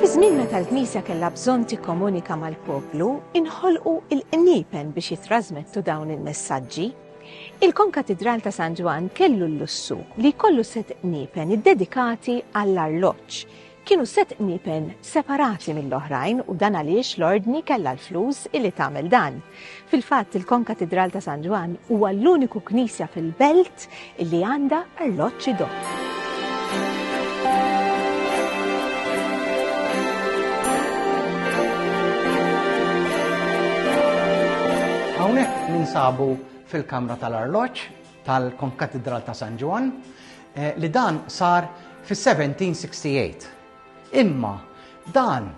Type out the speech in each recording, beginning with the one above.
Fiż-żmien meta l-Knisja kellha bżonn tikkomunika mal-poplu, inħolqu il-qniepen biex jitrażmettu dawn il-messaġġi. Il-Konkatidral ta' San Ġwann kellu l-lussu li jkollu set qniepen iddedikati għall-arloġġ kienu sett qniepen separati mill-oħrajn u dan għaliex l-Ordni kellha l-flus illi tagħmel dan. Fil-fatt il-Konkatidral ta' San Ġwann huwa l-uniku knisja fil-belt illi għandha arloġġ idott. Hawnhekk ninsabu fil-kamra tal-arloġġ tal-Konkatidral ta' San Ġwann li dan sar fis-1768. Imma dan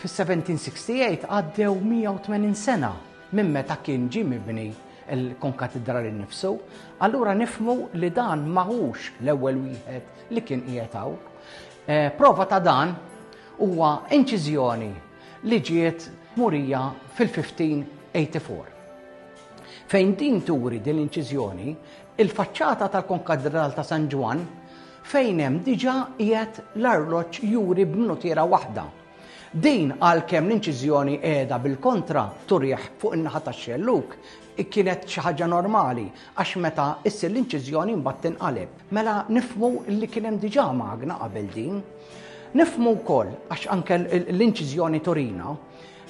fis-1768 għaddew 180 sena minn meta kien ġie mibni l-konkatidral innifsu, allura nifmu li dan maħux l-ewwel wieħed li kien qiegħed hawn. Eh, prova ta' dan huwa inċiżjoni li ġiet murija fil-1584. Fejn din turi din l-inċiżjoni, il-faċċata tal-Konkatdral ta' San Ġwann fejn hemm diġà qiegħed l-arloġġ juri b'minutiera waħda. Din għalkemm l-inċiżjoni qiegħda bil-kontra turih fuq in-naħa tax-xellug, kienet xi ħaġa normali għax meta issir l-inċiżjoni mbagħad tinqaleb. Mela nifmu li kien hemm diġà magna qabel din. Nifmu wkoll għax anke l-inċiżjoni turina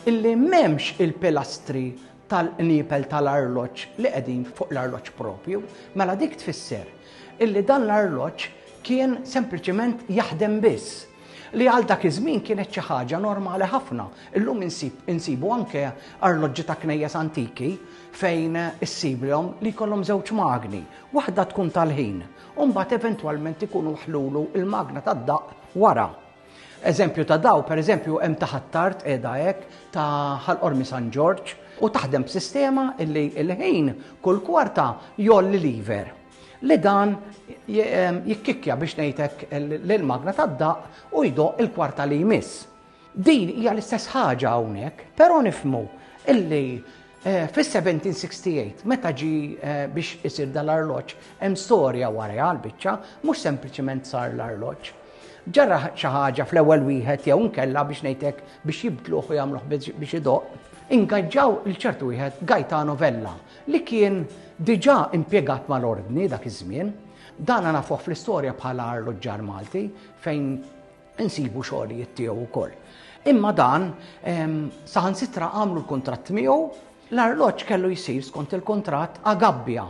illi m'hemmx il-pilastri tal-qniepel tal-arloġġ li qegħdin fuq l-arloġġ proprju, mela dik tfisser illi dan l-arloġġ kien sempliċement jaħdem biss li għal dak iż-żmien kienet xi ħaġa normali ħafna. Illum insibu anke arloġġi ta' knejjes antiki fejn issiblhom li jkollhom żewġ magni, waħda tkun tal-ħin, u mbagħad eventwalment ikunu ħlulu il-magna tad-daqq wara. Eżempju ta' daw, per eżempju, hemm ta' Ħattart qiegħda hekk, ta' Ħal Qormi San Ġorġ, u taħdem b'sistema illi l-ħin kull kwarta jgħolli liver li dan jikkikkja biex ngħidlek l-magna tad-daqq u jdoq il-kwarta li jmiss. Din hija l-istess ħaġa hawnhekk, però nifmu illi Fis-1768, meta ġie biex isir dan l-arloġġ, hemm storja warajha għall-biċċa, mhux sempliċement sar l-arloġġ. Ġara xi ħaġa fl-ewwel wieħed jew inkella biex ngħid hekk biex jibdluh u jagħmluh biex idoqq, ingaġġaw lil ċertu wieħed Gaetano Vella li kien diġà impjegat mal-Ordni dak iż-żmien. Dan nafuh fl-istorja bħala arloġġar Malti fejn insibu xogħlijiet tiegħu wkoll. Imma dan saħansitra għamlu l-kuntratt miegħu l-arloġġ kellu jsir skont il-kuntratt agabbja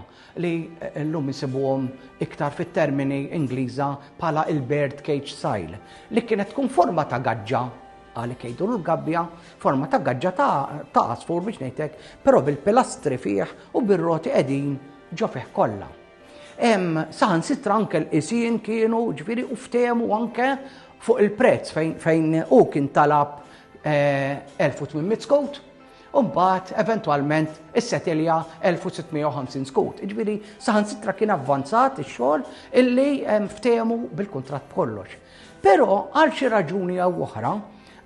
li eh, llum isibuhom iktar fit-termini Ingliża bħala il-bird cage style li kienet tkun forma ta' gaġġa għalik jgħidu l-gabbja, forma ta' gaġġa ta' asfur biex ngħidlek, però bil-pilastri fih u bir-roti qegħdin ġo fih kollha. Hemm saħansitra anke l-qisien kienu ġifieri u ftehmu anke fuq il-prezz fejn hu kien talab 1800 eh, skut u mbagħad eventwalment is-setilja 1650 skut. Ġifieri saħansitra kien avvanzat ix-xogħol illi ftehmu bil-kuntratt kollox. Però għal xi raġuni jew oħra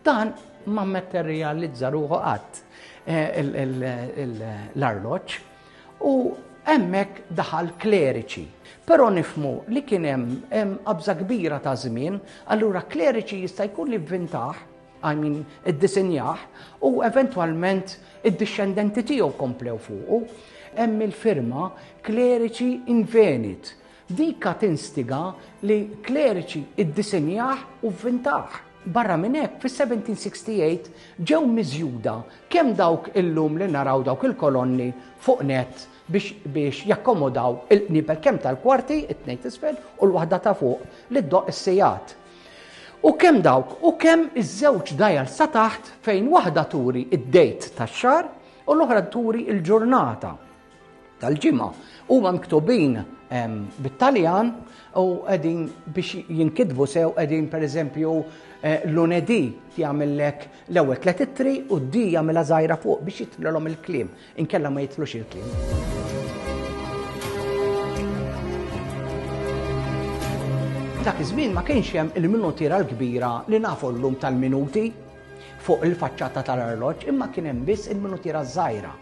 dan ma mmetterjalizza ruħu qatt eh, l-arloġġ. U hemmhekk daħal kleriċi. Però nifmu li kien hemm qabża kbira ta' żmien, allura kleriċi jista' jkun li vvintaħ, I mean, iddisinjah, u eventwalment id-dixxendenti tiegħu komplew fuqu. Hemm il-firma kleriċi invenit, Dika tinstiga li kleriċi iddisinjah u vvintah. Barra minn hekk, fis-1768 ġew miżjuda kemm dawk illum li naraw dawk il-kolonni fuq nett biex biex jakkomodaw il-qnibel kemm tal-kwarti, it-tnejn t'isfel u l-waħda ta' fuq, li ddoqq is-sigħat. U kemm dawk u kemm iż-żewġ dgħajal sa taħt fejn waħda turi d-date tax-xahar u l-oħra turi l-ġurnata. tal-ġimgħa. Huma miktubin ehm, bit-Taljan u qegħdin biex jinkitbu sew qegħdin pereżempju eh, lunedi jagħmellek l-ewwel tliet ittri u d-di jagħmilha żgħira fuq biex jitlilhom il-kliem, inkella ma jitlux il-kliem. Dak iż-żmien ma kienx hemm il-minutiera l-kbira li nafu llum tal-minuti, fuq il-faċċata tal-arloġġ imma kien hemm biss il-minutiera żgħira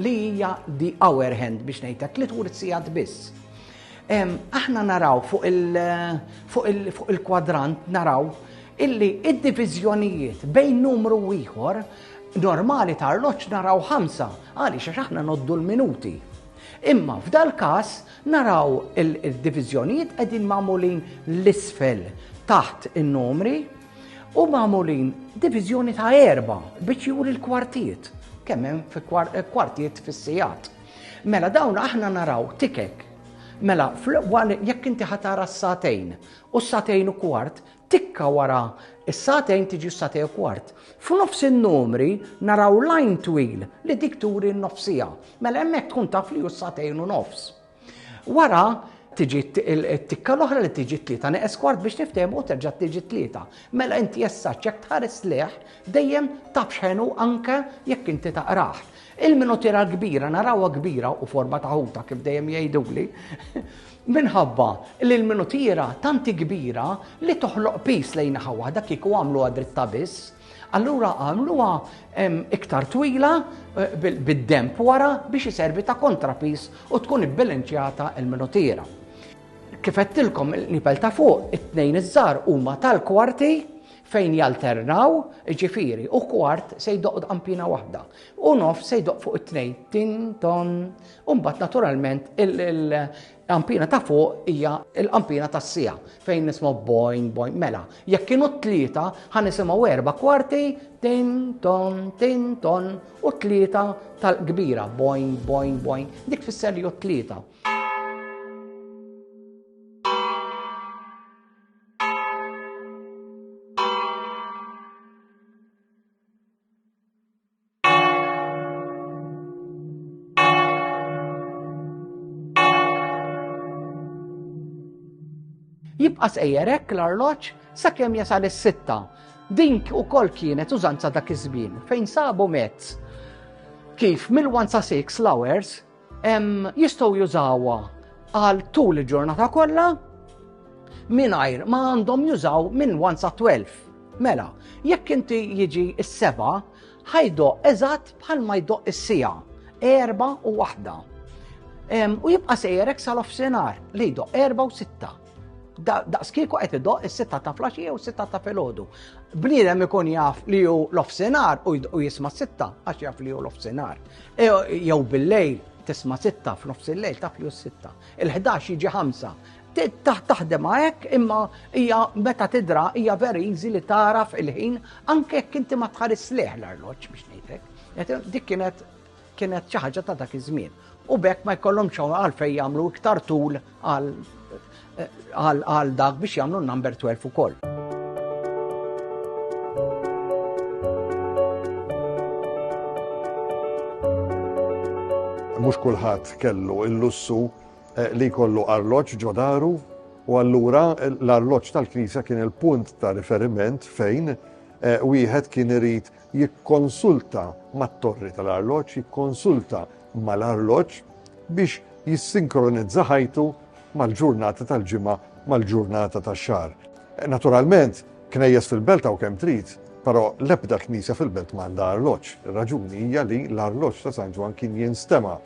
li hija di hour hand biex ngħidlek li turi sigħat biss. Aħna naraw fuq il-kwadrant naraw illi id-diviżjonijiet bejn numru ieħor normali ta' arloġġ naraw ħamsa għaliex għax aħna noddu l-minuti. Imma f'dal każ naraw il-diviżjonijiet qegħdin magħmulin l-isfel taħt in-numri U magħmulin diviżjoni ta' erba biex juri l-kwartiet, kemm hemm fi eh, kwartiet fis-sijat. Mela dawn aħna naraw tikek. Mela jekk inti ħatara s-satejn u s-satejn u kwart, tikka wara s-satejn tiġi s-satej u kwart. F'nofs in-numri naraw lajn twil li dik turi n-nofsija. Mela hemmhekk tkun taf li hu s-satejn u nofs. Wara tiġi t-tikka l-oħra li tiġi t-tlieta neqes kwart biex niftehmu u terġa' tiġi t-tlieta. Mela inti issa ċek tħares leħ dejjem taf x'ħenu anke jekk inti taqrah. Il-minutira l-kbira narawha kbira u forma ta' ħuta kif dejjem jgħiduli. Minħabba li l-minutira tanti kbira li toħloq pis lejn naħa waħda kieku għamlu għadritta biss. Allura għamluha iktar twila eh, bid-demp wara biex iservi ta' kontrapis u tkun ibbilanċjata il-minutira. Kifettilkom il-nipel ta' fuq, it-tnejn iż-żar huma tal-kwarti fejn jalternaw, ġifiri, u kwart se jdoq ampina waħda. U nof se jdoq fuq it-tnejn, tin, ton, un-bat naturalment Qampina ta' fuq hija l-qampina tas-sija fejn nisma' boing boing mela. Jekk kienu tlieta ħa nisimgħu erba' kwarti tin ton tin ton u tlieta tal-kbira boing boing boing dik tfisser li tlieta. Jibqa' sejjer hekk l-arloġġ sakemm jasal is-sitta. Din ukoll kienet użanza dak iż-żmien fejn sabu mezz kif mill-1 sa 6 l-hours Jistgħu jużawha għal tul il-ġurnata kollha mingħajr ma għandhom jużaw minn 1 sa 12. Mela, jekk inti jiġi s-seba, ħajdo eżatt bħal ma jdoq is-sija, erba u waħda. U jibqa' sejjerek sal-offsenar li jdoq erba u sitta. daqskiku qed idoq is-sitta ta' flaxija u s-sitta ta' filgħodu. Bniedem ikun jaf li hu l-ofsinar u jisma' sitta għax jaf li hu l-ofsinar. E, jew bil-lejl tisma' sitta f'nofs il-lejl taf li hu sitta. Il-11 jiġi ħamsa. Taħdem hekk imma hija meta tidra hija very easy li taraf il-ħin anke jekk inti ma tħares leħ l-arloġġ biex ngħidlek. Dik kienet kienet xi ħaġa ta' dak iż-żmien. U bekk ma jkollhom xogħol għalfejn jagħmlu iktar tul għal dak biex jagħmlu number 12 ukoll. Mhux kulħadd kellu l-lussu eh, li jkollu arloġġ ġodaru u allura l-arloġġ tal-Knisja kien il-punt ta' riferiment fejn eh, wieħed kien irid jikkonsulta mat-torri tal-arloġġ, jikkonsulta mal-arloġġ biex jissinkronizza ħajtu mal-ġurnata tal-ġimgħa, mal-ġurnata tax-xahar. Naturalment, knejjes fil-belt hawn kemm trid, però l-ebda knisja fil-belt m'għandha arloġġ. Ir-raġuni hija li l-arloġġ ta' San Ġwann kien jinstema'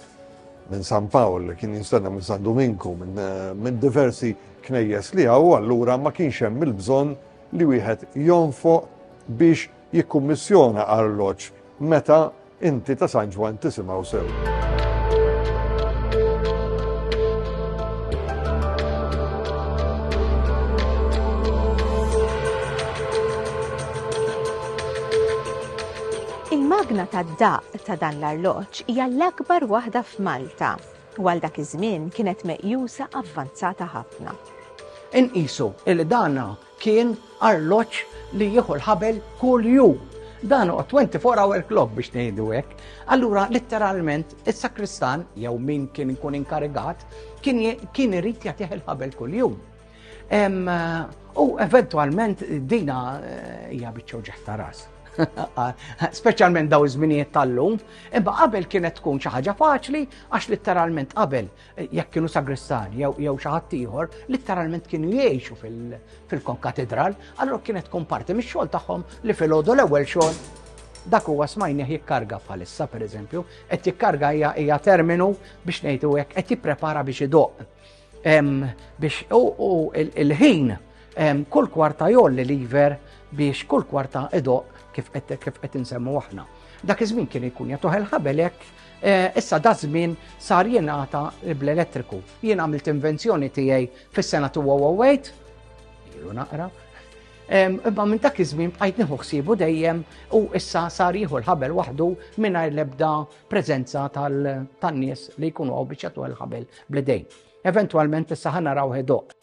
minn San Pawl, kien jinstema' minn San Duminku, minn diversi knejjes li hawn, allura ma kienx hemm il-bżonn li wieħed jonfoq biex jikkummissjona arloġġ meta inti ta' San Ġwann tisimgħu sew. Il-magna tad-daq ta' dan l-arloġġ hija l-akbar waħda f'Malta u għal dak iż-żmien kienet meqjusa avvanzata ħafna. Inqisu li dan Kien arloġġ li jieħu l-ħabel kuljum. Dan hu 24 hour clock biex ngħidu hekk. Allura litteralment is-sakristan jew min kien ikun inkarigat kien kien irid jagħtih il-ħabel kuljum. U eventwalment dina eh, hija biċċew ġeħta ras. Speċjalment daw iż-żminijiet tal-lum, imma qabel kienet tkun xi ħaġa faċli għax litteralment qabel jekk kienu sagristani jew xi ħadd ieħor, litteralment kienu jgħixu fil-konkatedral, allura kienet tkun parti mix-xogħol tagħhom li filgħodu l-ewwel xogħol dak huwa smajni jikkarga bħalissa pereżempju, qed jikkarga hija terminu biex ngħidu hekk qed jipprepara biex idoq. Biex u il-ħin kull kwarta jolli liver biex kull kwarta idoq kif qed insemmu aħna. Dak iż-żmien kien ikun jagħtuh il-ħabelek Eh, issa da żmien sar jingħata bl-elettriku. Jien għamilt invenzjoni tiegħi fis-sena 2008, ilu naqra, imma minn dak iż-żmien bqajt nieħu ħsiebu dejjem u issa sar jieħu l-ħabel waħdu mingħajr l-ebda preżenza tan-nies li jkunu għaw biex jagħtu l-ħabel bl-idejn. Eventwalment issa ħana raw ħedoq.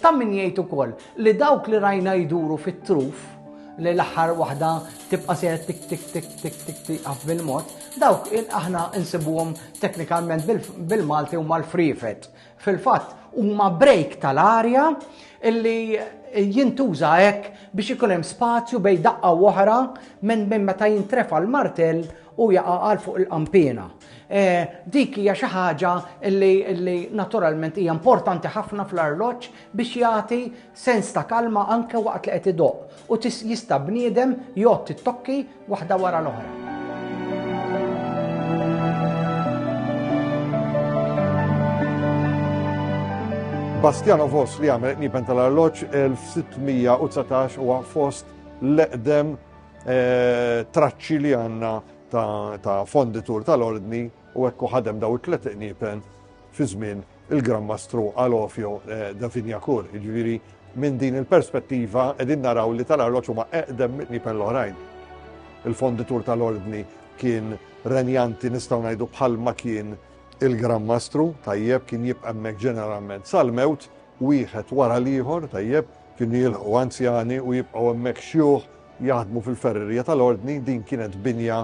Ta' min jgħid ukoll li dawk li rajna jduru fit-truf li l-aħħar waħda tibqa' sejra tik tik tik tik tik tiqaf bil-mod, dawk aħna insibuhom teknikalment bil-Malti huma l-frifet. Fil-fatt huma break tal-arja illi jintuża hekk biex ikun hemm spazju bej daqqa oħra minn minn meta jintrefa l-martell u jaqa' għal fuq il-qanpiena. Dik hija xi ħaġa li naturalment hija importanti ħafna fl-arloġġ biex jagħti sens ta' kalma anke waqt li qed idoqq u jista' bniedem jgħodd it-tokki waħda wara l-oħra. Bastiano Vos li għamel qniepen tal-arloġġ 1619 huwa fost l-eqdem traċċi li għanna ta' fonditur tal-ordni u ekku ħadem daw it-tlet iqnipen fi żmien il-Gran Mastru Alofio eh, da Finjakur. Ġviri, minn din il-perspettiva edin naraw li tal-arloċ huma eqdem nipen l-oħrajn. Il-fonditur tal-ordni kien renjanti nistaw najdu bħal ma kien il-Gran Mastru, tajjeb kien jibqemmek ġeneralment sal-mewt, wieħed wara l-ieħor, tajjeb kien jilħu anzjani u jibqgħu hemmhekk xjuħ jaħdmu fil-ferrerija tal-Ordni, din kienet binja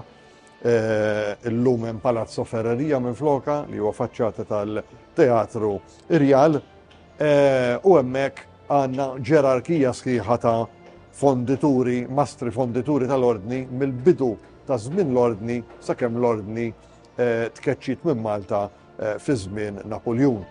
eh, illum hemm Palazzo Ferrerija minn floka li huwa faċċata tal-Teatru Irjal eh, u hemmhekk għandna ġerarkija sħiħa ta' fondituri, mastri fondituri tal-Ordni mill-bidu ta' żmien l-Ordni sakemm l-Ordni eh, tkeċċit minn Malta fi żmien Napuljun.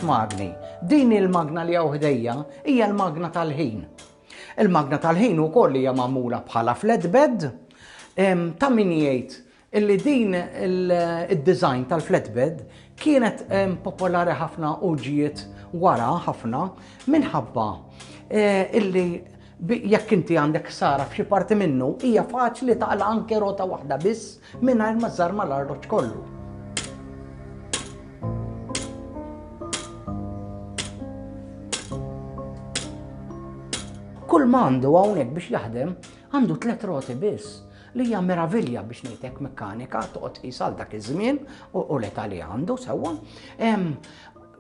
magni. Din il-magna li hawn ħdejja hija l-magna tal-ħin. Il-magna tal-ħin ukoll hija magħmula bħala flatbed ta' min jgħid illi din il-design tal-flatbed kienet popolari ħafna u ġiet wara ħafna minħabba eh, illi jekk inti għandek sara f'xi parti minnu, hija faċli taqla anke rota waħda biss Mingħajr ma żżarma l-arloġġ kollu. Kull ma għandu hawnhekk biex jaħdem għandu tliet roti biss li hija meravilja biex ngħidlek mekkanika toqgħod qisal dak iż-żmien u l-età li għandu sewwa.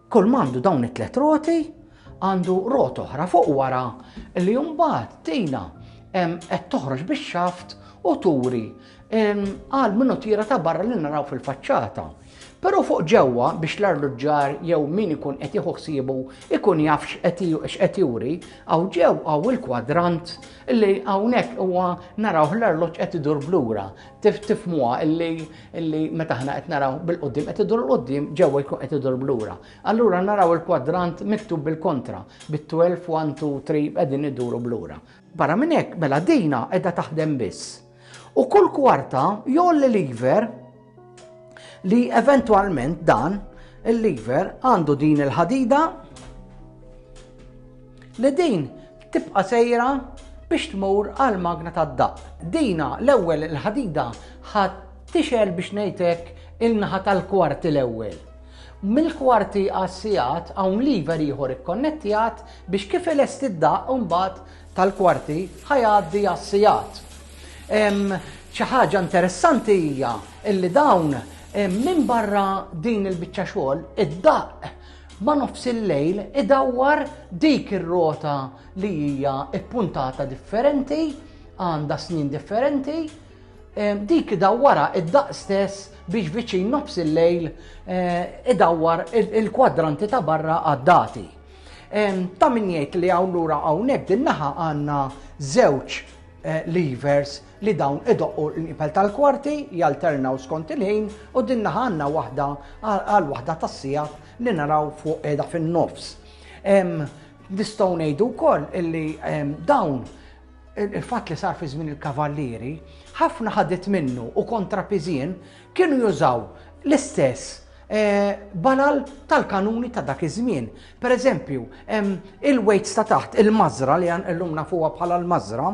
Kull m'għandu dawn it-tliet roti għandu rot oħra fuq wara li mbagħad tina qed toħroġ bix-xaft u turi għal minnu tira ta' barra li naraw fil-faċċata. Però fuq ġewwa biex l-arluġġar jew min ikun qed jieħu ħsiebu ikun jaf x'qed juri, għaw ġew għaw il-kwadrant li hawnhekk huwa naraw l-arloġġ qed idur blura. Tifmuha illi illi meta aħna qed naraw bil-qudiem qed idur l-qudiem ġewwa jkun qed idur blura. Allura naraw il-kwadrant miktub bil-kontra, bit-12, 1, 2, 3 qegħdin iduru blura. Barra minn hekk, mela dina qiegħda taħdem biss. U kull kwarta jolli lever li eventwalment dan il-lever għandu din il-ħadida li din Tibqa' sejra biex tmur għall-magna tad-daqq. Dina l-ewwel il-ħadida ħa tixgħel biex ngħid hekk in-naħa tal-kwarti l-ewwel. Mill-kwarti għas-sigħat hawn lever ieħor ikkonnettjat biex kif ilesti d-daqq imbagħad tal-kwarti ħa jgħaddi għas-sigħat. Xi ħaġa interessanti hija illi dawn minn barra din il-biċċa xogħol id-daqq ma' nofs il-lejl idawwar dik ir-rota li hija ppuntata differenti, għandha snien differenti, ehm, dik idawwara id-daqs stess biex viċin nofs il-lejl eh, idawwar il-kwadranti ta' barra għad-dati. Ehm, ta' min jgħid li hawn lura hawnhekk din naħa għandna żewġ eh, levers li dawn idoqqu l-inqipel tal-kwarti, jalternaw skont il-ħin u din naħa għandna waħda għal waħda tas-sigħat li naraw fuq qiegħda fin-nofs. Nistgħu ngħidu wkoll illi dawn il-fatt li sar fi żmien il-kavallieri, ħafna ħadit minnu u kontrapizien kienu jużaw l-istess balal tal-kanuni ta' dak iż-żmien. Per eżempju, il-weights ta' taħt, il-mażra li għan illum nafuha bħala l-mażra,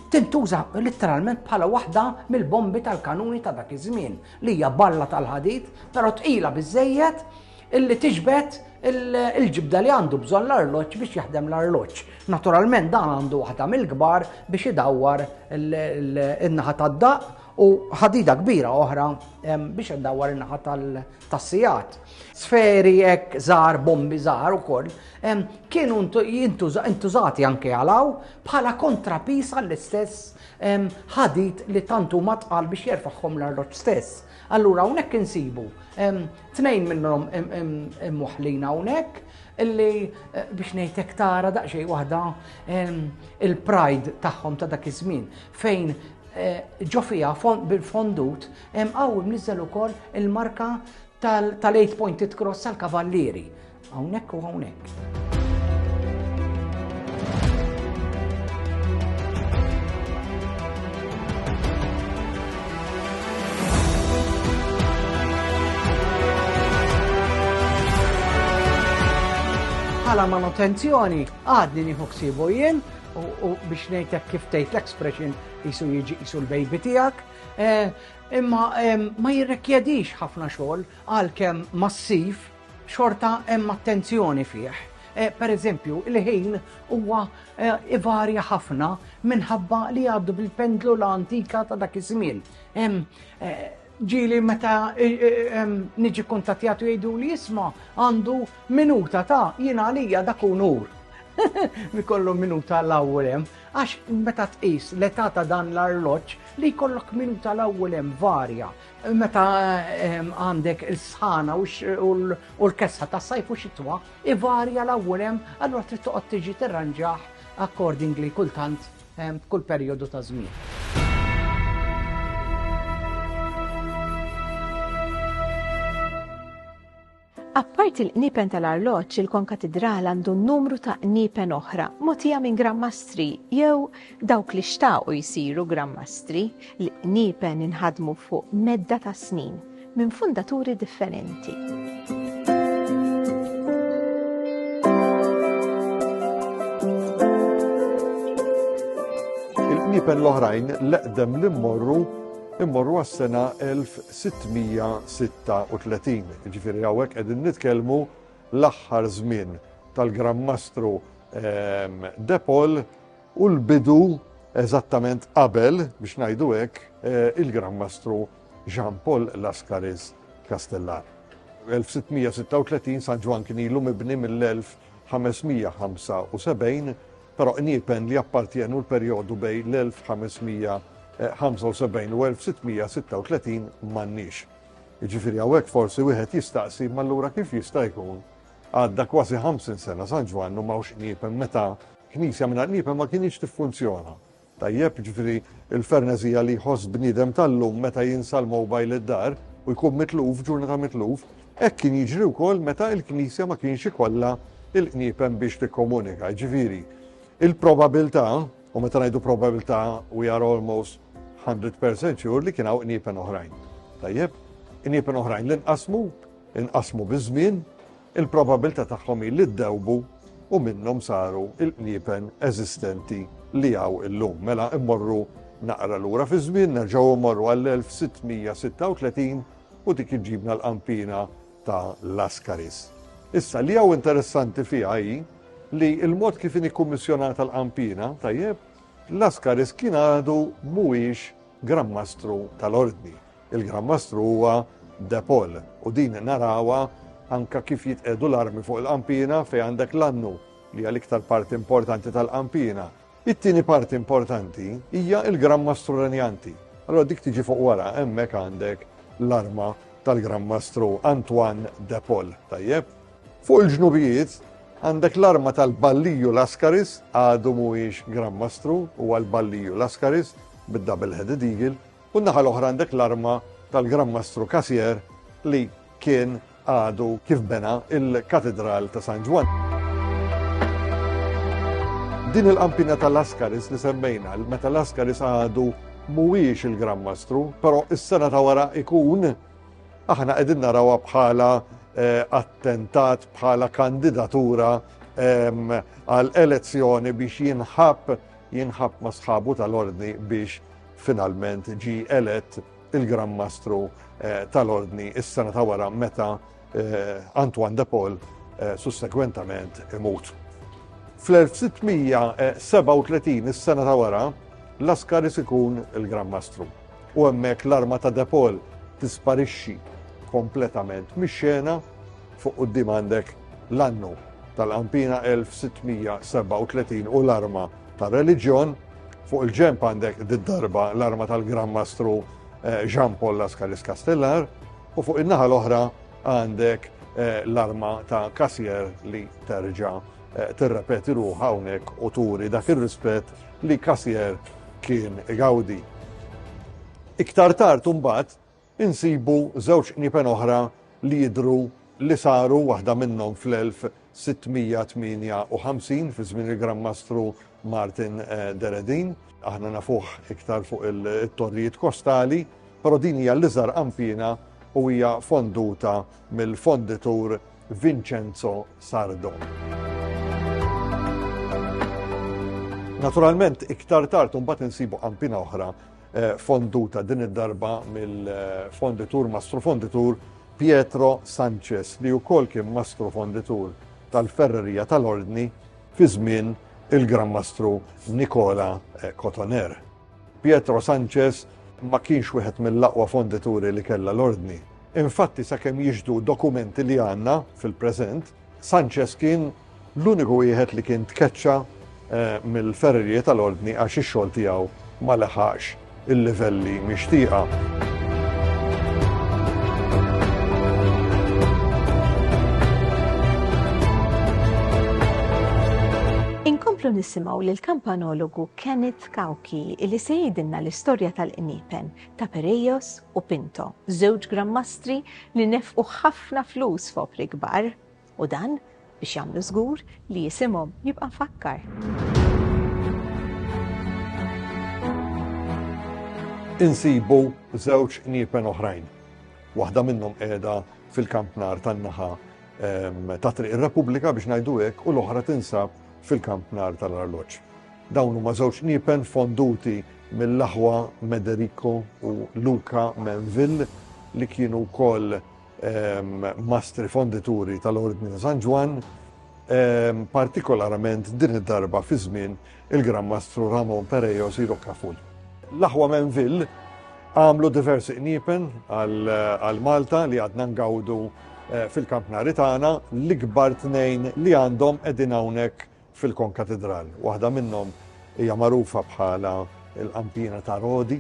tintuża letteralment bħala waħda mill-bombi tal-kanuni ta' dak iż-żmien, li hija balla tal-ħadid, però tqila biżejjed illi tiġbed il-ġibda li għandu bżonn l-arloġġ biex jaħdem l-arloġġ. Naturalment dan għandu waħda mill-kbar biex idawwar in-naħa tad-daqq U ħadida kbira oħra biex indawwar in-naħa tas-sijat. Sferi hekk żgħar, bombi żgħar ukoll, kienu intużati anke għalaw bħala kontrapis għall-istess ħadid li tantu matqal biex jerfaħħom l-arloġġ stess. Allura hawnhekk insibu tnejn minnhom imwaħlina hawnhekk illi eh, biex ngħidlek tara daqsxejn waħda il-pride tagħhom ta' dak iż-żmien fejn Ġo fiha bil-fondut hemm qawwi mniżżel ukoll il-marka tal-8 pointed cross tal-Kavallieri. Hawnhekk u hawnhekk. bħala manutenzjoni għadni nieħu ksibu jien U biex ngħidlek kif tgħid l-expression isu jiġi isu l-baby tiegħek, eh, imma ma jirrekjedix ħafna xogħol għalkemm massiv xorta hemm attenzjoni fih. Eh, per eżempju, il-ħin huwa eh, ivarja ħafna minħabba li għaddu bil-pendlu l-antika ta' dak iż-żmien. Ġieli meta niġi kuntattjat u jgħidu li jisma għandu minuta ta' jien għalija dak unur. Mikollu minuta l-ewwel hemm, għax meta tqis l-età ta' dan l-arloġġ li jkollok minuta l-ewwel hemm varja. Meta għandek il-sħana u l-kesħa ta' sajf u xitwa, ivarja l-ewwel hemm, allura trid toqgħod tiġi tirranġah accordingly kultant f'kull perjodu ta' żmien. Apparti l-qniepen tal-arloġġ, il-konkatidral għandu numru ta' qniepen oħra, motija minn grammastri jew dawk li xtaqu jisiru grammastri li qniepen inħadmu fuq medda ta' snin. minn fundaturi differenti. il-qniepen l-oħrajn l-eqdem li mmorru immorru għas-sena 1636. Ġifieri hawnhekk qegħdin nitkellmu l-aħħar żmien tal-Gran Mastru ehm, Depol u l-bidu eżattament qabel biex ngħidu hekk eh, il-Gran Mastru Jean Paul Lascaris Castellar. 1636 San Ġwann kien ilu mibni mill-1575, però iniepen li jappartjenu l-perjodu bejn l-1575 u 1636 m'għandniex. Jiġifieri hawnhekk forsi wieħed jistaqsi m'allura kif jista' jkun għadda kważi 50 sena San Ġwann u m'hawnx qniepen meta knisja mingħajr qniepen ma kinitx tiffunzjona. Tajjeb, jiġifieri l-ferneżija li jħoss bniedem tal-lum meta jinsa l-mowbajl id-dar u jkun mitluf, ġurnata mitluf, hekk kien jiġri wkoll meta il-Knisja ma kienx ikollha il-qniepen biex tikkomunika. Jiġifieri, il-probabiltà, u meta ngħidu probabiltà we are almost 100% sure li kien hawn qniepen oħrajn. Tajjeb, qniepen oħrajn li nqasmu, inqasmu biż-żmien, il-probabbiltà tagħhom hi li ddewbu u minnhom saru l-qniepen eżistenti li hawn illum. Mela mmorru naqra lura fiż-żmien, nerġgħu mmorru għall-1636 u dik iġġibna l-qanpiena ta' Lascaris. Issa li hawn interessanti fiha hi li l-mod kif inhi kummissjonata l-qanpiena, tajjeb, Lascaris kien għadu mhuwiex Gran Mastru tal-Ordni. Il-Gran Mastru huwa De Paul u din narawha anke kif jitqiegħdu l-armi fuq il-qanpiena fejn għandek l-annu li hija l-iktar parti importanti tal-qanpiena. It-tieni parti importanti hija l-Gran Mastru Renjanti. Allura dik tiġi fuq wara, hemmhekk għandek l-arma tal-Gran Mastru Antoine De Paul, tajjeb? Fuq il-ġnubijiet għandek l-arma tal-Balliju Lascaris, għadu mhuwiex Gran Mastru, huwa l-Balliju Lascaris bid-double headed eagle, U n-naħa l-oħra għandek l-arma tal-Gran Mastru Casier li kien għadu kif bena il-Katedral ta' San Ġwan. Din il-qampina tal-Askaris li semmejna, meta l-Askaris għadu mhuwiex il-Gran Mastru, però is-sena ta' wara ikun aħna qegħdin narawha bħala eh, attentat, bħala kandidatura ehm, għal elezzjoni biex jinħab jinħab ma' sħabu tal-ordni biex Finalment ġie elett il-Gran Mastru tal-Ordni is-sena ta' wara meta Antoine de Paul sussegwentament imut. Fl-1637, is-sena ta' wara, Lascaris ikun il-Gran Mastru u hemmhekk l-arma ta' de Paul tisparixxi kompletament mix-xena, fuq quddiem għandek l-annu tal-qampina 1637 u l-arma tar-reliġjon, fuq il-ġenb għandek did-darba l-arma tal-Gran Mastru eh, Jean Paul Lascaris Castellar u fuq in-naħa l-oħra għandek eh, l-arma ta' Kasier li terġa' eh, tirrepeti ruħ hawnhekk u turi dak ir-rispett li Kasier kien igawdi. Iktar tard imbagħad insibu żewġ qniepen oħra li jidhru li saru, waħda minnhom fl-1658 fi żmien il-Gran Mastru Martin Deredin. Aħna nafuh iktar fuq it-torrijiet kostali, però din hija l-iżgħar qanpiena u hija fonduta mill-fonditur Vincenzo Sardo. Naturalment, iktar tard imbagħad insibu qanpiena oħra fonduta din id-darba mill-fonditur mastru fonditur Pietro Sanchez li wkoll kien mastru fonditur tal-Ferrerija tal-Ordni fi żmien il-Gran Mastru Nikola eh, Cotoner. Pietro Sanchez ma kienx wieħed mill-aqwa fondituri li kellha l-ordni. Infatti sakemm jiġdu dokumenti li għandna fil-preżent, Sanchez kien l-uniku wieħed li kien tkeċċa mill-ferrerije tal-Ordni għax ix-xogħol tiegħu ma leħaqx il-livelli mixtieqa. Inkomplu nisimgħu lil kampanologu Kenneth Kauki li se jgħidilna l-istorja tal-qniepen ta' Pereios u Pinto, żewġ Granmastri li nefqu ħafna flus f'opri kbar, u dan biex jagħmlu żgur li isimhom jibqa' mfakkar. insibu żewġ niepen oħrajn. Waħda minnhom qiegħda fil-kampnar tan-naħa ehm, ta' Triq ir-Repubblika biex ngħidu hekk u l-oħra tinsab fil-kampnar tal-arloġġ. Dawn huma żewġ niepen fonduti mill-aħwa Mederico u Luca Mainville li kienu wkoll mastri fondituri tal-Ordni ta' San Ġwann, partikolarament din id-darba fi żmien il-Gran Mastru Ramon Perejos y Rocaful. L-aħwa Mainville għamlu diversi qniepen għal Malta li għadna ngawdu fil-kampnari tagħna, l-ikbar tnejn li għandhom qegħdin hawnhekk fil-Konkatidral. Waħda minnhom hija magħrufa bħala l-Qampina ta' Rodi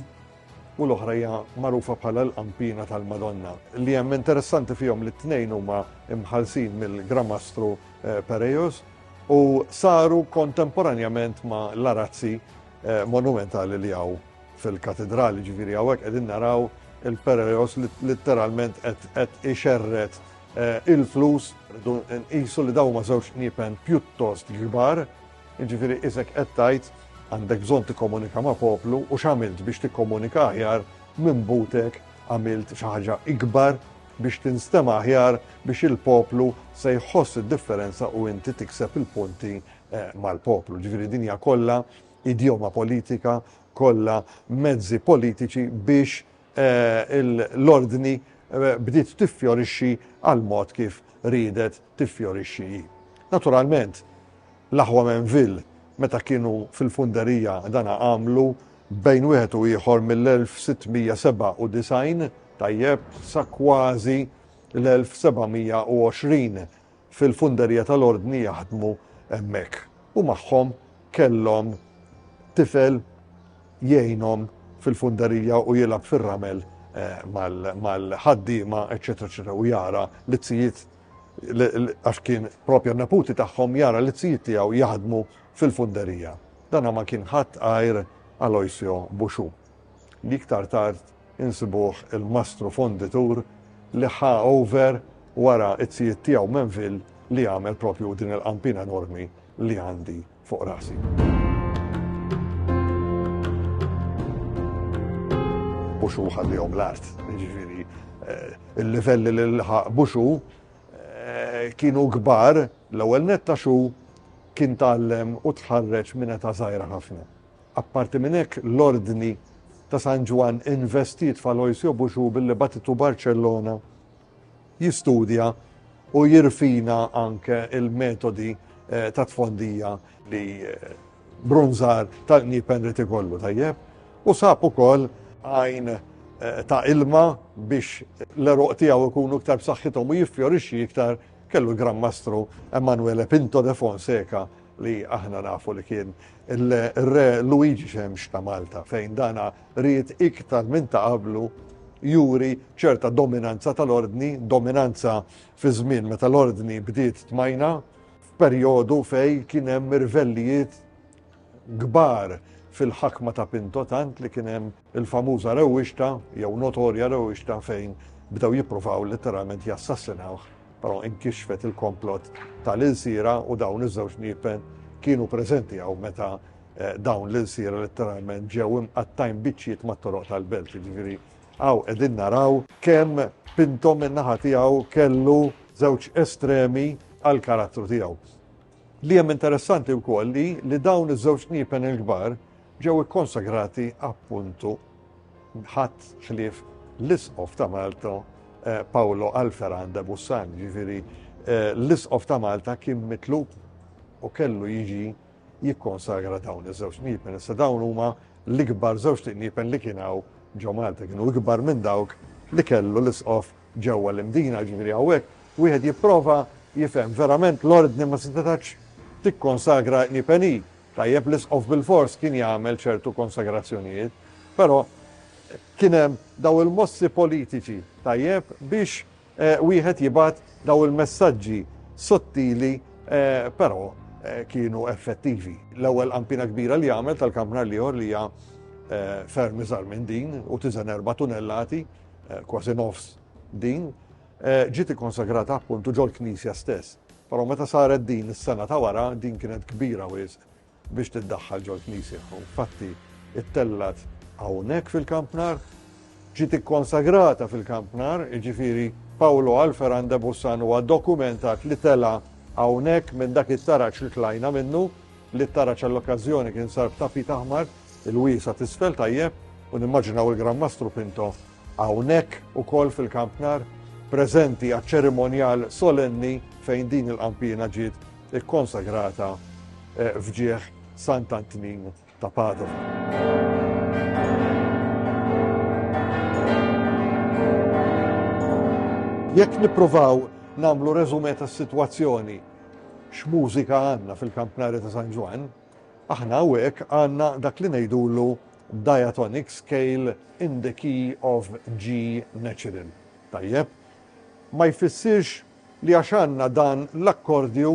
u l-oħra hija magħrufa bħala l-Qampina tal-Madonna. Li hemm interessanti fihom li t-tnejn huma mħallsin mill-Gran Mastru Pereios u saru kontemporanjament ma' l-arazzi monumentali li hawn fil-Katidral. Jiġifieri hawnhekk qegħdin naraw il-Pereios litteralment qed ixerred il-flus rridu nqisu li dawn huma żewġ qniepen pjuttost kbar, jiġifieri isek qed tgħid għandek bżonn tikkomunika ma' poplu u x'għamilt biex tikkomunika aħjar minn butek għamilt xi ħaġa ikbar biex tinstema' aħjar biex il-poplu se jħoss id-differenza u inti tikseb il-punti mal-poplu. Jiġifieri din hija kollha idjoma politika, kollha mezzi politiċi biex l-Ordni bdiet tiffjorixxi għall-mod kif riedet tiffjorixxi hi. Naturalment, l-aħwa Mainville, meta kienu fil-funderija dan għamlu bejn wieħed u ieħor mill-1697, tajjeb, sa kważi l-1720, fil-funderija tal-Ordni jaħdmu hemmhekk u magħhom kellhom tifel jgħinhom fil-funderija u jilgħab fir-ramel mal-ħaddiema, eċċetera, eċċetera, u jara l-izzijiet għax kien propja neputi tagħhom jara l-izzijiet tiegħu jaħdmu fil-funderija. Dana ma kien ħadd għajr Aloisio Buxu. li iktar tard insibuh il-mastru fonditur li ħa over wara t-tzijiet tiegħu Menville li għamel propju din il-qampina enormi li għandi fuq rasi. Buxu ħallihom l-art, ġifiri, eh, il-livelli li l-ħaq buxu eh, kienu kbar l-ewwel netta xu kien tallem u tħarreġ minn ta' żgħira ħafna. Apparti minn hekk, l-Ordni ta' San Ġwann investiet f'Aloisio Busciu billi bagħtitu Barċellona jistudja u jirfina anke l-metodi ta' tfondija li bronżar tal-qnieb Henry Tigollu, tajjeb, u sab ukoll għajn ta' ilma biex l-għeruq tiegħu jkunu iktar b'saħħithom u jiffjorixxi iktar kellu l-Gran Mastru Emanuele Pinto de Fonseca, li aħna nafu li kien ir-Re Luigi Xemx ta' Malta, fejn dan ried iktar minn ta' qablu juri ċerta dominanza tal-Ordni, dominanza fi żmien meta l-Ordni bdiet tmajna, f'perjodu fejn kien hemm irvellijiet kbar fil-ħakma ta' Pinto tant li kien hemm il-famuża rewwixta jew notorja rewwixta fejn bdew jippruvaw letteralment jassassinawh però inkixfet il-komplott ta' l-ilsiera u dawn iż-żewġ niepen kienu preżenti hawn meta dawn l-ilsiera letteralment ġew imqattgħin biċċiet mat-toroq tal-belt jiġifieri hawn qegħdin naraw kemm Pinto min-naħa tiegħu kellu żewġ estremi għall-karattru tiegħu. Li hemm interessanti wkoll li li dawn iż-żewġ kniepen il-kbar ġew ikkonsagrati appuntu ħadd ħlief l-Isqof ta' Malta eh, Paolo Alferan de Bussan, ġifieri eh, l-Isqof ta' Malta kien mitlub u kellu jiġi jikkonsagra dawn iż-żewġ kniepen. Issa dawn huma l-ikbar żewġ kniepen li kien hawn ġo Malta kienu ikbar minn dawk li kellu l-isqof Ġewwa l-Imdina, jiġifieri hawnhekk, wieħed jipprova jifhem verament l-Ordni ma setgħetx tikkonsagra Ni Pe Ni. Tajjeb, l-Isqof bilfors kien jagħmel ċertu konsagrazzjonijiet, però kien hemm dawn il-mossi politiċi, tajjeb, biex wieħed jibgħat dawn il-messaġġi sottili, però kienu effettivi. L-ewwel qampina kbira li għamel tal-kampnar l-ieħor li hija ferm iżgħar minn din u tiżen erba' tunellati, kważi nofs din, ġiet ikkonsagrata appuntu ġol-knisja stess. Però meta saret din is-sena ta' wara, din kienet kbira wisq biex tiddaħħal ġol-knisja. U infatti ittellgħet hawnhekk fil-Kampnar, ġiet ikkonsagrata fil-Kampnar, jiġifieri Paolo Alferan de Bussan huwa dokumentat li tela' hawnhekk minn dak it-taraġ li tlajna minnu, li t-taraġ għall-okkażjoni kien sar b'tapit aħmar, Il-wiesgħa t'isfel tajjeb u nimmaġinaw il-Gran Mastru Pinto hawnhekk ukoll fil-Camp Nou, preżenti għaċ-ċerimonjal solenni fejn din il-qanpiena ġiet ikkonsagrata f'ġieħ Sant Antnin ta' Padova. Jekk nippruvaw nagħmlu reżumè tas-sitwazzjoni, x'mużika għandna fil-Camp Nou ta' San Ġwann? Aħna haweek għandna dak li ngħidulu diatonic scale in the key of G natural. Tajjeb? Ma jfissirx li għax għandna dan l-akkordju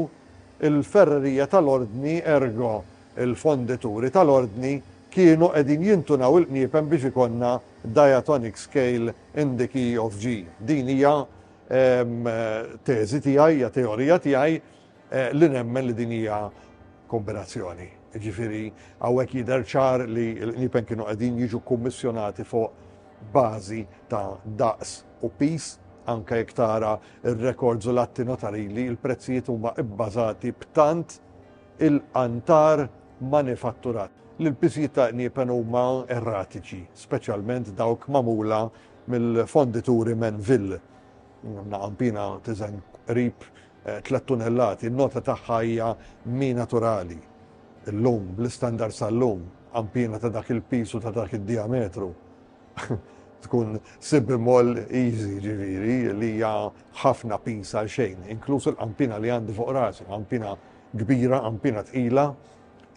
il-ferrerija tal-ordni ergo il-fondituri tal-ordni kienu qegħdin jintunaw il-qniepen biex ikollna diatonic scale in the key of G. Din hija teżi tiegħi, hija teorija tiegħi Li nemmen li din hija kombinazzjoni. Jiġifieri hawnhekk jidher ċar li l-qniepen kienu qegħdin jiġu kummissjonati fuq bażi ta' daqs u piż, anke jekk tara r-rekords u l-atti notarili, il-prezzijiet huma bbażati b'tant il-qantar manifatturat li l-piżijiet ta' qniepen huma erratiċi, speċjalment dawk magħmula mill-fondituri Menville. Naqampina tiżen qrib tliet tunellati, in-nota tagħha hija mi naturali llum, bl-istandards tal-lum, għanpiena ta' dak il-piż u ta' dak id-dijametru tkun sibbi moll easy ġifieri li hija ħafna piż għal xejn, inkluż il-qanpiena li għandi fuq rasi, qanpiena kbira, qanpiena tqila,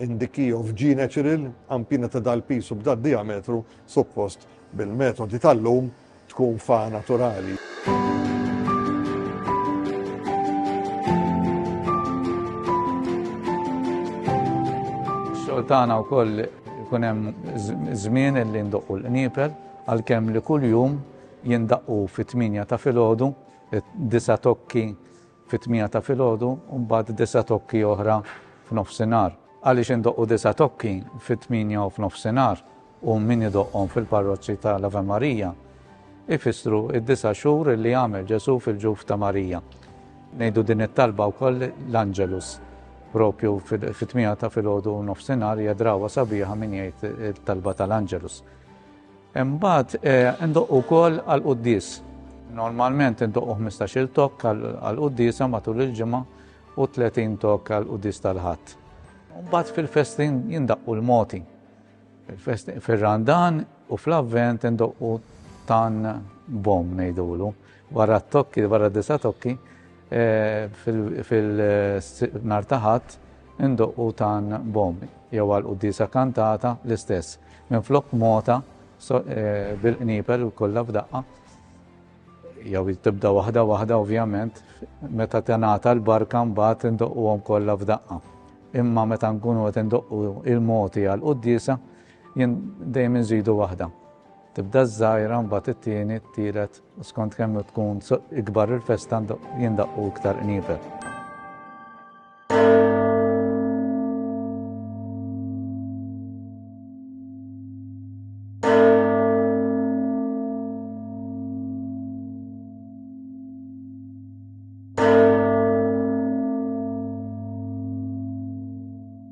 in the key of G natural, qanpiena ta' dal-piż u b'dad-dijametru, suppost bil-metodi tal-lum, tkun fa naturali. Xogħol tagħna wkoll ikun hemm żmien li ndoqqu l-qniepel għalkemm li kuljum jindaqqu fit-8 ta' filgħodu, disa tokki fit-tmiegħa ta' filgħodu u mbagħad disa' tokki oħra f'nofsinhar. Għaliex indoqqu disa' tokki fit-tmienja u f'nofsinhar u min idoqqhom fil-parroċċi ta' l-Ave Maria? Ifissru d-disa' xhur li għamel Ġesù fil-ġuf ta' Marija. Ngħidu din it-talba wkoll l-Angelus propju fit-tmiegħa ta' filgħodu u nofsinhar hija drawwa sabiħa min jgħid it-talba tal-Angelus. Imbagħad indoqqu wkoll għall-quddies. Normalment indoqqu ħmistax-il tokk għall-quddiesa matul il-ġimgħa u tletin tokk għall-quddies tal-Ħadd. Imbagħad fil-festin jindaqqu l-mogħti. Fir-Randan u fl-Avvent indoqqu tann bomm ngħidulu. Wara t-tokki, wara d-disa tokki, eh, fil-nar taħat, indoqqu tan bom, jew għal disa kantata l-istess. Minn flok mota, eh, bil-qnipel u kollha f'daqqa, jew tibda waħda waħda ovvjament, meta tenata l-barka mbagħad indoqquhom kollha f'daqqa. Imma meta nkunu qed indoqqu il-moti għal qudiesa, jien dejjem inżidu waħda. Tibda ż-żgħira mbagħad it-tieni, t-tielet u skont kemm tkun ikbar il-festa jindaqqu iktar qnievel.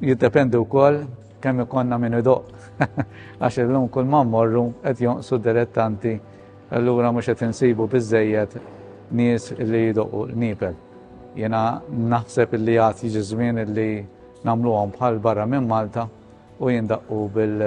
jiddependi wkoll kemm ikonna minn idoq. Għax illum kull ma mmorru qed jonqsu dilettanti allura mhux qed insibu biżejjed nies li jidoqu l-nipel. Jena naħseb li għad jiġi żmien li nagħmluhom bħal barra minn Malta u jindaqqu bil-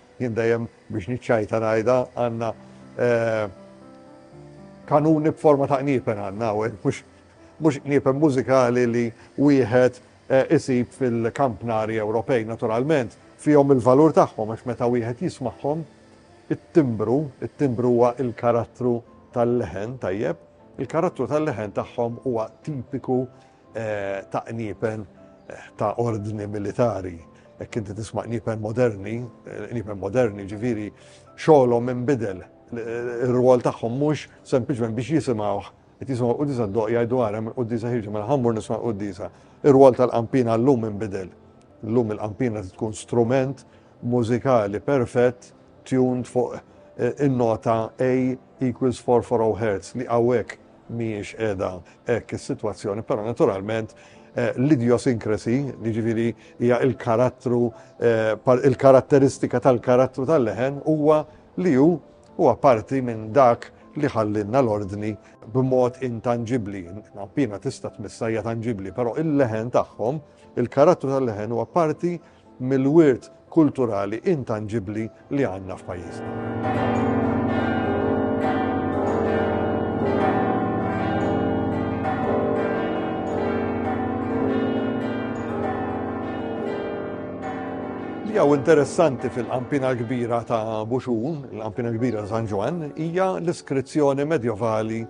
Jien dejjem biex niċċajta ngħidha għandna kanuni b'forma ta' qniepen għandna hawnhekk, mhux mhux qniepen mużikali li wieħed isib fil-kampnari Ewropej naturalment fihom il-valur tagħhom għax meta wieħed jismagħhom it-timbru, it-timbru huwa l-karattru tal-leħen, tajjeb, il-karattru tal-leħen tagħhom huwa tipiku ta' qniepen ta' ordni militari. Jekk inti tisma' qniepen moderni, qniepen moderni ġifieri xogħolhom inbidel. Ir-rwol tagħhom mhux sempliċement biex jisimgħuh qed jisimgħu l-quddisa d-doq jgħidu ara mill-quddisa ħirġu minn ħammur nisma' l-quddisa. Ir-rwol tal-qampina llum inbidel. Llum il-qampina tkun strument mużikali perfett tuned fuq in-nota A equals 440 Hz li hawnhekk mhijiex qiegħda hekk is-sitwazzjoni, però naturalment l-idiosyncrasy, jiġifieri hija l-karattru, il-karatteristika tal-karattru tal-leħen huwa li hu huwa parti minn dak li ħallinna l-ordni b'mod intanġibbli. Appina tista' tmissha hija tanġibbli, però il-leħen tagħhom, il-karattru tal-leħen huwa parti mill-wirt kulturali intanġibbli li għandna f'pajjiżna. Jew interessanti fil-qampina kbira ta' Buxun, il-qampina kbira San Ġwan, hija l-iskrizzjoni medjevali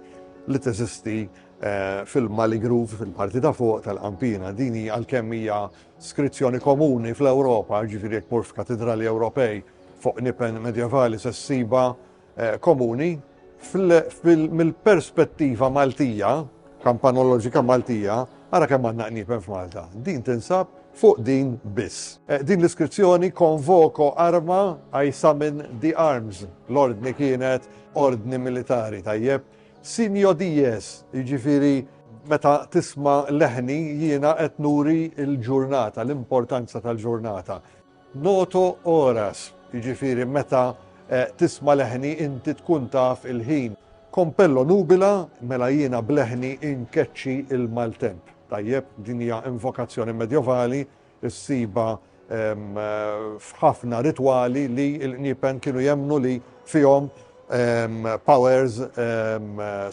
li teżisti eh, fil-Mali Groove, fil-parti ta' fuq tal-qampina. Din hija għalkemm hija Skrizzjoni komuni fl-Ewropa, jiġifieri jekk tmur f'katidrali Ewropej fuq nipen medjevali se ssibha komuni mill-perspettiva Maltija, kampanoloġika Maltija, ara kemm għandna qniepen f'Malta. Din tinsab fuq din biss. Din l-iskrizzjoni Convoco Arma, I Summon the Arms, l-ordni kienet ordni militari, tajjeb, Sinjo dies, jiġifieri meta tisma' leħni jiena qed nuri l-ġurnata, l-importanza tal-ġurnata. Noto horas, jiġifieri meta tisma' leħni inti tkun taf il-ħin. Compello nubila, mela jiena b'leħni inkeċċi l-maltemp. Tajjeb, din hija invokazzjoni medjovali issibha f'ħafna ritwali li l-qniepen kienu jemmnu li fihom powers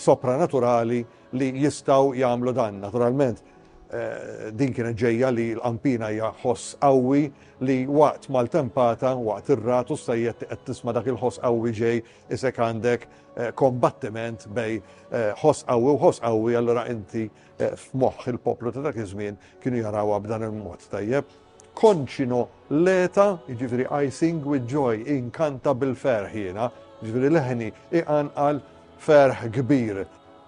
sopranaturali li jistgħu jagħmlu dan. Naturalment, eh, din kienet ġejja li l-qampina hija ħoss qawwi li waqt mal-tempata, waqt ir-ratu s-sajjet qed tisma' dak il-ħoss qawwi ġej isek għandek eh, kombattiment bej eh, ħoss qawwi u ħoss qawwi allura inti F'moħħ il-poplu ta' dak iż-żmien kienu jarawha b'dan il-mod, tajjeb? Konċino leta, jiġifieri I sing with joy, inkanta bil-ferħ jiena, jiġifieri leħni iqanqal ferħ kbir.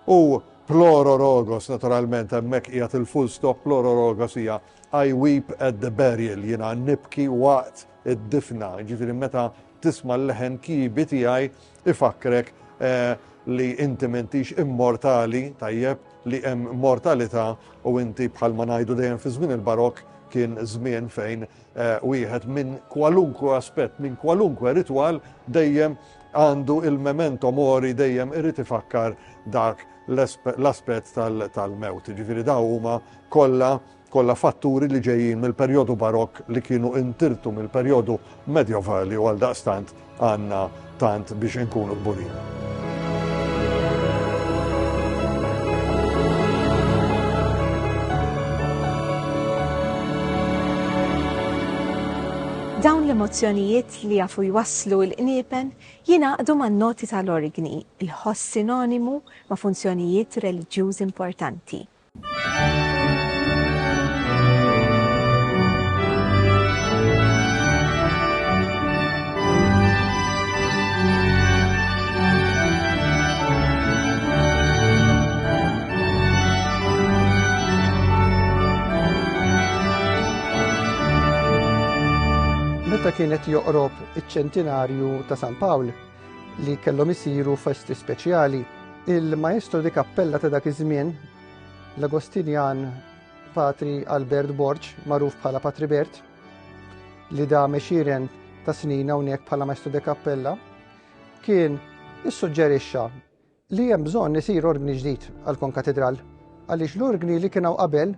U plororogos, naturalment, hemmhekk qiegħed il-full stop, plororogos hija I weep at the burial, jiena nibki waqt id-difna, jiġifieri meta tisma' l-leħen kibi tiegħi Ifakkrek li inti m'intix immortali, tajjeb, li hemm mortalità u inti bħalma ngħidu dejjem fi żmien il-Barokk kien żmien fejn wieħed minn kwalunkwe aspett, minn kwalunkwe ritwal dejjem għandu il-memento mori dejjem irid ifakkar dak l-aspett tal-mewt. Jiġifieri dawn huma kollha kollha fatturi li ġejjin mill-perjodu Barokk li kienu intirtu mill-perjodu Medjevali u għaldaqstant għandna tant biex inkunu kburin. Dawn l-emozzjonijiet li jafu jwasslu l-qniepen jingħaqdu man-noti tal-orgni, il-ħoss sinonimu ma' funzjonijiet reliġjużi importanti. kienet joqrob iċ-ċentinarju ta' San Pawl, li kellhom isiru festi speċjali. Il-Maestro di Kappella ta' dak iż-żmien, l-Agostinjan Patri Albert Borg, magħruf bħala Patri Bert, li da mexiren ta' snin hawnhekk bħala Maestro di Kappella, kien issuġġerixxa li hemm bżonn isir orgni ġdid għall-konkatidral għaliex l-orgni li kien hawn qabel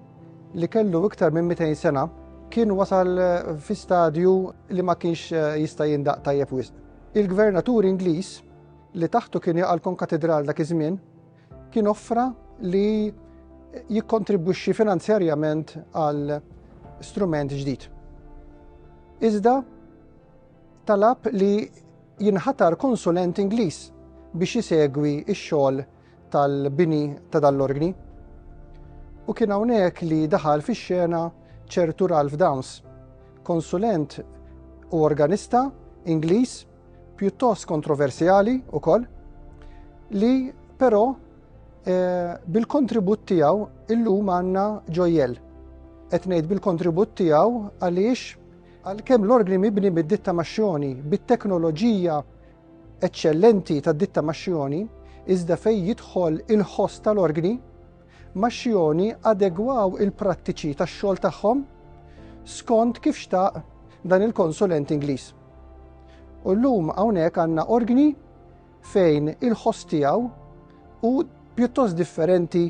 li kellu iktar minn 200 sena kien wasal fi stadju li ma kienx eh, jista' jindaq tajjeb wisq. Il-gvernatur Ingliż li taħtu kien jaqa' l-konkatidral dak iż-żmien kien offra li jikkontribwixxi finanzjarjament għal strument ġdid. Iżda talab li jinħatar konsulent Ingliż biex isegwi x-xogħol tal-bini ta' dan l-organi. U kien hawnhekk li daħal fix-xena ċertu Ralph Downs, konsulent u organista Ingliż pjuttost kontroversjali ukoll li però eh, bil-kontribut tiegħu illum għandna ġojjel. Qed ngħid bil-kontribut tiegħu għaliex Għalkemm l-orgni mibni mid-ditta Mascioni bit-teknoloġija eċċellenti tad-ditta Mascioni, iżda fejn jidħol il-ħoss tal-orgni, Mascioni adegwaw il-prattiċi tax-xogħol tagħhom skont kif xtaq dan il-konsulent Ingliż. U llum hawnhekk għandna orgni fejn il-ħoss tiegħu hu pjuttost differenti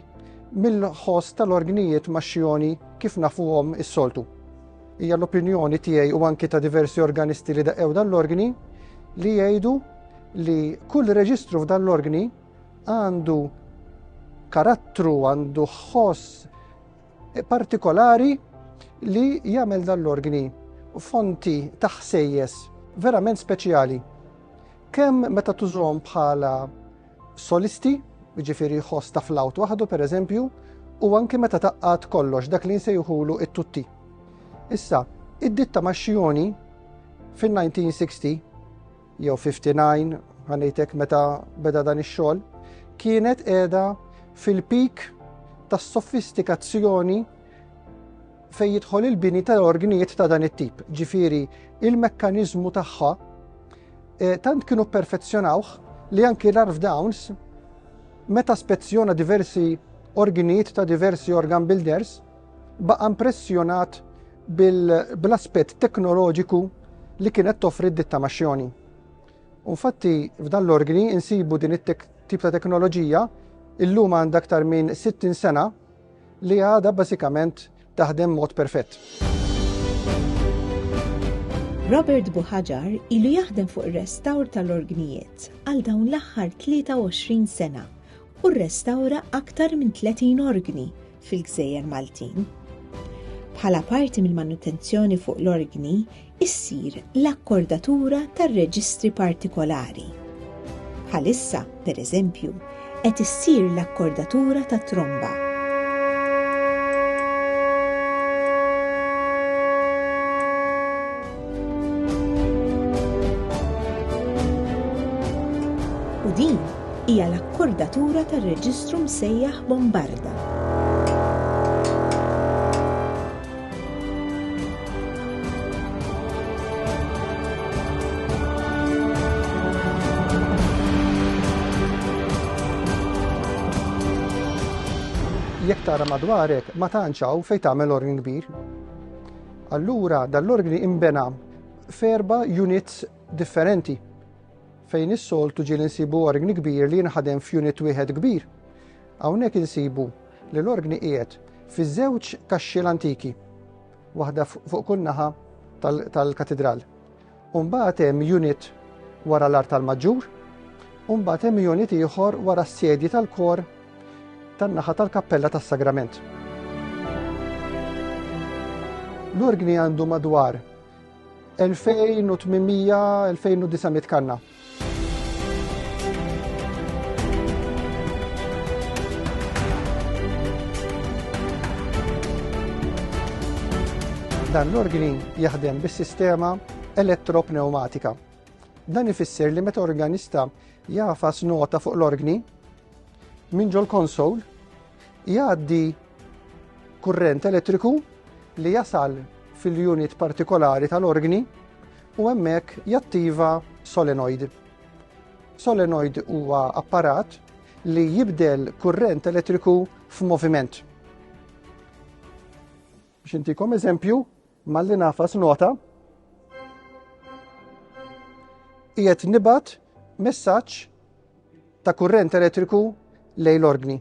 mill-ħoss tal-orgnijiet maxxioni kif nafuhom is-soltu. Hija l-opinjoni tiegħi u anki ta' diversi organisti li daqew dan l-organi li jgħidu li kull reġistru f'dan l-organi għandu karattru, għandu ħoss partikolari li jagħmel dan l-organi fonti ta' ħsejjes verament speċjali. Kemm meta tużhom bħala solisti, jiġifieri ħoss ta' flawt waħdu pereżempju, u anki meta taqqat kollox dak li nsejħulu it-tutti. Issa, id-ditta Maxxioni fin-1960 jew 59 ħanejtek meta beda dan ix-xogħol, kienet qiegħda fil-pik tas-sofistikazzjoni fejn jidħol il-bini ta' ordnijiet ta' dan it-tip, ġifieri il-mekkaniżmu tagħha eh, tant kienu perfezzjonawh li anki l-Arf Downs meta spezzjona diversi orgnijiet ta' diversi organ builders baqa' impressjonat bil-aspett teknoloġiku li kienet toffri d-ditta maċjoni. Unfatti, f'dan l-organi insibu din it-tip ta' teknoloġija illum għandha aktar minn 60 sena li għadha bażikament taħdem mod perfett. Robert Buħaġar ilu jaħdem fuq ir-restawr tal-orgnijiet għal dawn l-aħħar 23 sena u rrestawra aktar minn 30 orgni fil-Gżejjer Maltin. Bħala parti mill-manutenzjoni fuq l-orgni, issir l-akkordatura tar-reġistri partikolari. Bħalissa, pereżempju, qed issir l-akkordatura tat-tromba. U din hija l-akkordatura tar-reġistru msejjaħ Bombarda. jekk tara madwarek ma tantx hawn fejn tagħmel orgni kbir. Allura dal-orgni imbena f'erba units differenti. Fejn is-soltu ġieli nsibu orgni kbir li jinħadem f'unit wieħed kbir, hawnhekk insibu li l-orgni qiegħed fi żewġ kaxxiel antiki, waħda fuq kull naħa tal-katidral. U mbagħad hemm unit wara l-artal maġġur, u mbagħad hemm unit ieħor wara s-sedji tal-kor tan-naħa tal-kappella tas-sagrament. L-orgni għandu madwar 2800-2900 kanna. Dan l-organi jaħdem bis-sistema elettropneumatika. Dan ifisser li meta organista jafas nota fuq l-organi minn ġol konsol jgħaddi Kurrent elettriku li jasal fil-unit partikolari tal-organi u hemmhekk jattiva solenoid. Solenoid huwa apparat li jibdel kurrent elettriku f'moviment. Biex intikom eżempju, malli nafas nota, qiegħed nibat messaġġ ta' kurrent elettriku lejn l-organi.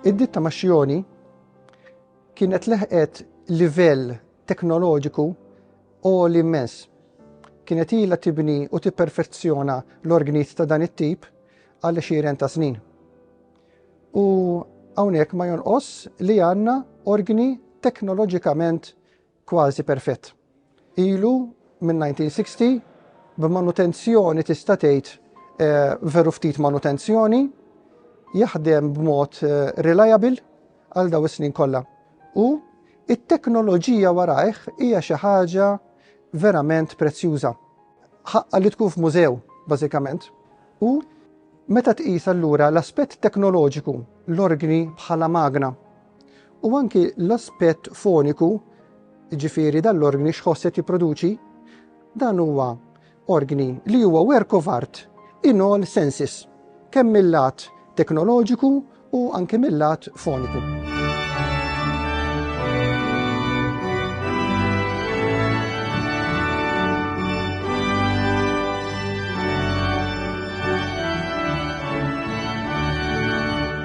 Id-ditta ma' Xioni kienet leħqet livell teknoloġiku u l-immens. Kienet ila tibni u tipperfezzjona l-orgnit ta' dan it-tip għal xiren ta' snin. U hawnhekk ma jonqos li għandna orgni teknoloġikament kważi perfett ilu min-1960 b'manutenzjoni tista' tgħid veru ftit manutenzjoni, jaħdem b'mod reliable għal daw is-snin kollha. U it-teknoloġija warajh hija xi ħaġa verament prezzjuża. Ħaqqa li tkun f'mużew, bażikament. U meta tqis allura l-aspett teknoloġiku l-orgni bħala magna U anki l-aspett foniku, jiġifieri dan l-organi x'ħoss qed jipproduċi, dan huwa organi li huwa work of art in all senses, kemm mill-lat teknoloġiku u anke mill-lat foniku.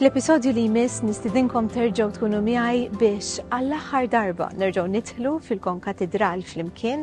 Fl-episodju li jmiss nistidinkom terġgħu tkunu miegħi biex għall-aħħar darba nerġgħu nidħlu fil-konkatedral flimkien